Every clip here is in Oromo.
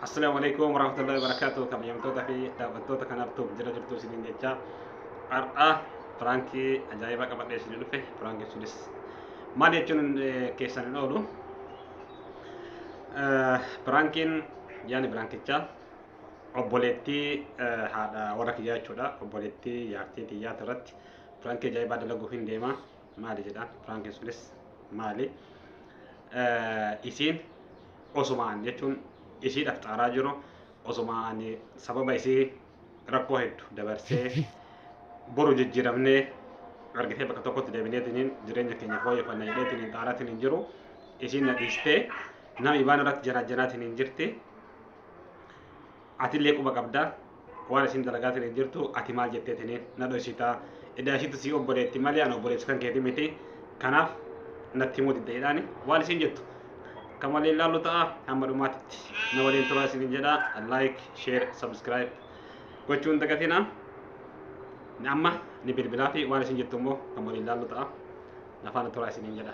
Assalamu alaikum warahmatullahi wabarakatuh kabajamtoota fi daawwattoota kanaaf tuuf jira jirtu isiniin jecha har'a piraankii ajaa'ibaa qabadhee isinii dhufe piraankii sunis maal jechuun eh, keessan hin oolu Eh, piraankiin yaani piraankichaa obboleettii eh, haadha warra kiyyaa jechuudha obboleettii jaartii tiyyaati irratti piraankii ajaa'ibaa dalaguu hin deema maali jedhaan piraankiin sunis maali isiin osuma an jechuun isiidhaaf xaaraa jiru osuma ani sababa isii rakkoo heddu dabarsee boru jijjiiramnee argitee bakka tokkotti deebineetiniin jireenya keenya fooyyeffanna jedheetiniin xaaraatiin hin jiru isiin na dhiistee nama ibaan irratti janaajanaatiniin jirti Atillee quba qabda waan isin dalagaa taniin jirtu ati maal jettee taniin na dhoysita edaa ishiitu sii obboleetti malee an obboleessi kan keeti miti kanaaf natti himuu didda jedhaani waan isin jettu kan waliin laallu ta'a hamma dhumaatitti na waliin turaa isin jedha like share subscribe gochuun dagatina amma ni bilbilaa fi waan isin jettu immoo kan waliin laallu ta'a nafaana turaa isin jedha.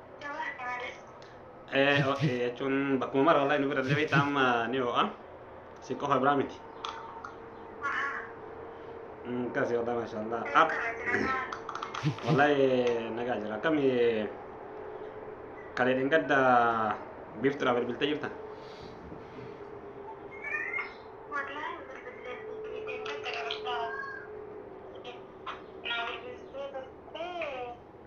Eh, ok, jechuun bakkuma mara wallahi nu bira illee beektaa amma ni ho'a. Isin qofa biraa miti. Mm, Akkasii wallahi maashaallah. Ah, Wallahi nagaa jira. Akkami kalee dhingadda biiftuudhaaf bilbiltee jirta?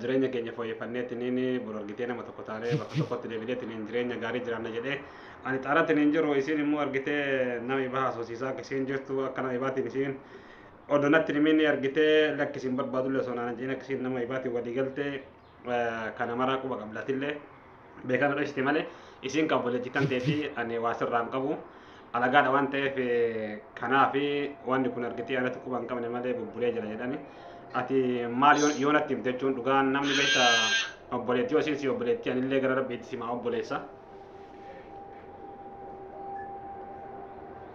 jireenya keenya fooyyeffanneetiniin bor argitee nama tokko taanee bakka tokkotti deebineetiniin jireenya gaarii jiraanna jedhee ani xaaratiniin jiru isiin immoo argitee nama ibaa haasofsiisaa akka isiin jirtu akka nama ibaatiin isiin odonatti himiin argitee lakki isiin barbaadullee osoo naan jedhin akka isiin nama ibaatiin walii galtee kana maraa quba qablatillee beekaa nu dhoysite malee isiin kan obboleettii kan ta'ee fi ani waa sirraa hin qabu alagaadha waan ta'eef eh, kanaa fi wanni kun argitee anatti quba hin qabne malee bubbulee jira jedhani ati maal yoo- yoo natti himte jechuun dhugaan namni beekta obboleettii yoo isiin si obboleettii anillee gara rabbiitti simaa obboleessa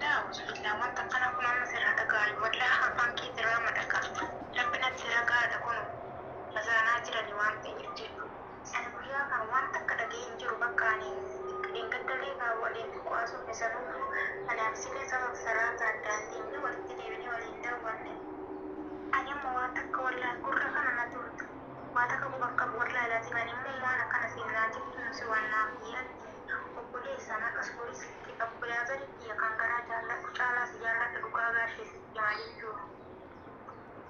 Daa musliimaa wanta kana kun amma sirra dhagaayu wallah afaan kee sirraa madhaka. Rabbinatti sirra gaadha kun basaanaa jirani waan ta'eef jechuudha. Ani guyyaa kana waan takka dhagee hin jiru bakka ani dheengadda leekaa waliin haasofne sanuuyyuu anaaf silee sabab salaata addaan teenyee walitti deebinee wal hin daawwanne ani amma waa takka wallahi gurra kana na tuulte waa takka quba hin qabu wallahi lazim ani immoo waan akkana siin naa jettuun si waan naaf yaadde obboleessa nan usgurii sitti qabu brother kiyya kan garaa jaalladhu caalaa si jaalladha dhugaa gaashee sitti hima jechuun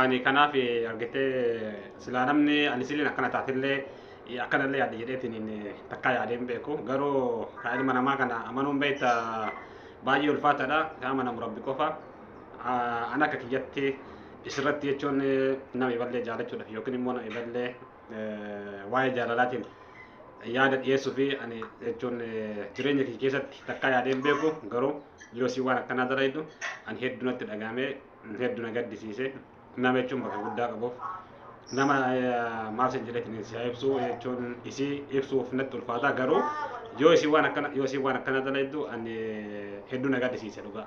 ani kanaaf argitee silaa namni ani siliin akkana taatellee akkanallee yaadde jedheetiin takkaa yaadee hin beeku garuu kaa ilma namaa kana amanuun beekta baay'ee ulfaataadha kaa amanamu rabbi qofa an akka kiyyatti isirratti jechuun nama iballee jaalachuudhaaf yookiin immoo nama iballee waa'ee jaalalaatiin yaada dhiyeessuu fi ani jechuun jireenya kee keessatti takkaa yaadee hin beeku garuu yoo si waan akkanaa dalaydu ani hedduu natti dhagaamee hedduu na gaddisiise nama jechuun bakka guddaa qabuuf nama maaf sin jedheetiin si ibsuu jechuun isii ibsuuf natti ulfaata garuu yoo isii waan akkana yoo isii waan akkana dalaydu ani hedduu na gaddisiise dhugaa.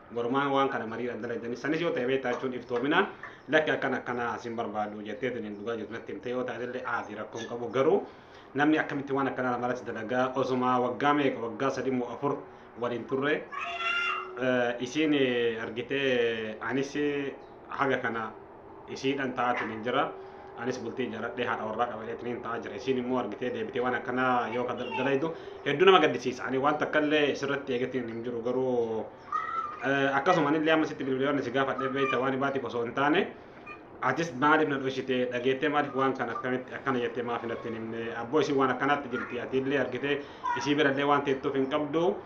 Gormaan waan kana mariidhaan dalagdanii sanis yoo ta'e beektaa jechuun iftoominaan lakki akkana akkana sin barbaadu jettee tuniin dhugaa jirtu natti himte yoo taate illee aadii rakkoo hin qabu garuu namni akkamitti waan akkanaa namarratti dalagaa osuma waggaa meeqa waggaa sadii moo afur waliin turre isiin argitee anis haga kana isiidhan ta'aatiin hin jira. Anis bultii ijaaradhee haadha warraa qabateetiin hin ta'aa jira. Isiin immoo argitee deebitee waan akkanaa yoo dalaydu hedduu nama gaddisiisa. Ani waan takka illee sirratti eegatiin hin jiru garuu akkasuma illee amma sitti bilbiloonni si gaafadhee beekta waan baatiif osoo hin taane atis maaliif na dhoksitee dhageettee maaliif waan kana akkamitti akkana jettee maaf hin attiin himne abboo isin waan akkanaatti jirti ati illee argitee isii birallee waan teettuuf hin qabdu.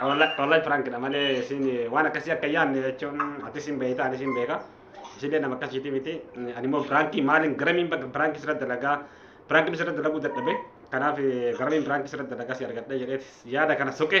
Wallahi pirankidha malee isin waan akkasii akka yaadne jechuun atis hin beekta anis hin beeka. Isillee nama akkasiiti miti. Ani immoo pirankii maaliin garamiin bakka pirankii sirra dalagaa pirankii sirra dalaguu dadhabe. Kanaaf garamiin pirankii sirra dalagaa si argadhe jedhee yaada kana soqe.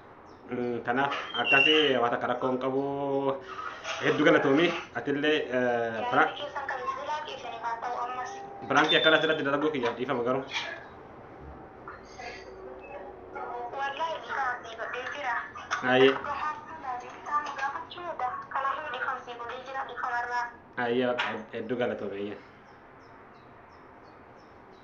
Kanaaf akkasi waa takka rakkoo hin qabu. Hedduu galatoomi atillee piraak. Piraankii akkana asirratti dalaguu kiyyaaf dhiifama garuu. Ayyee. Ayyee hedduu galatoomi ayyee.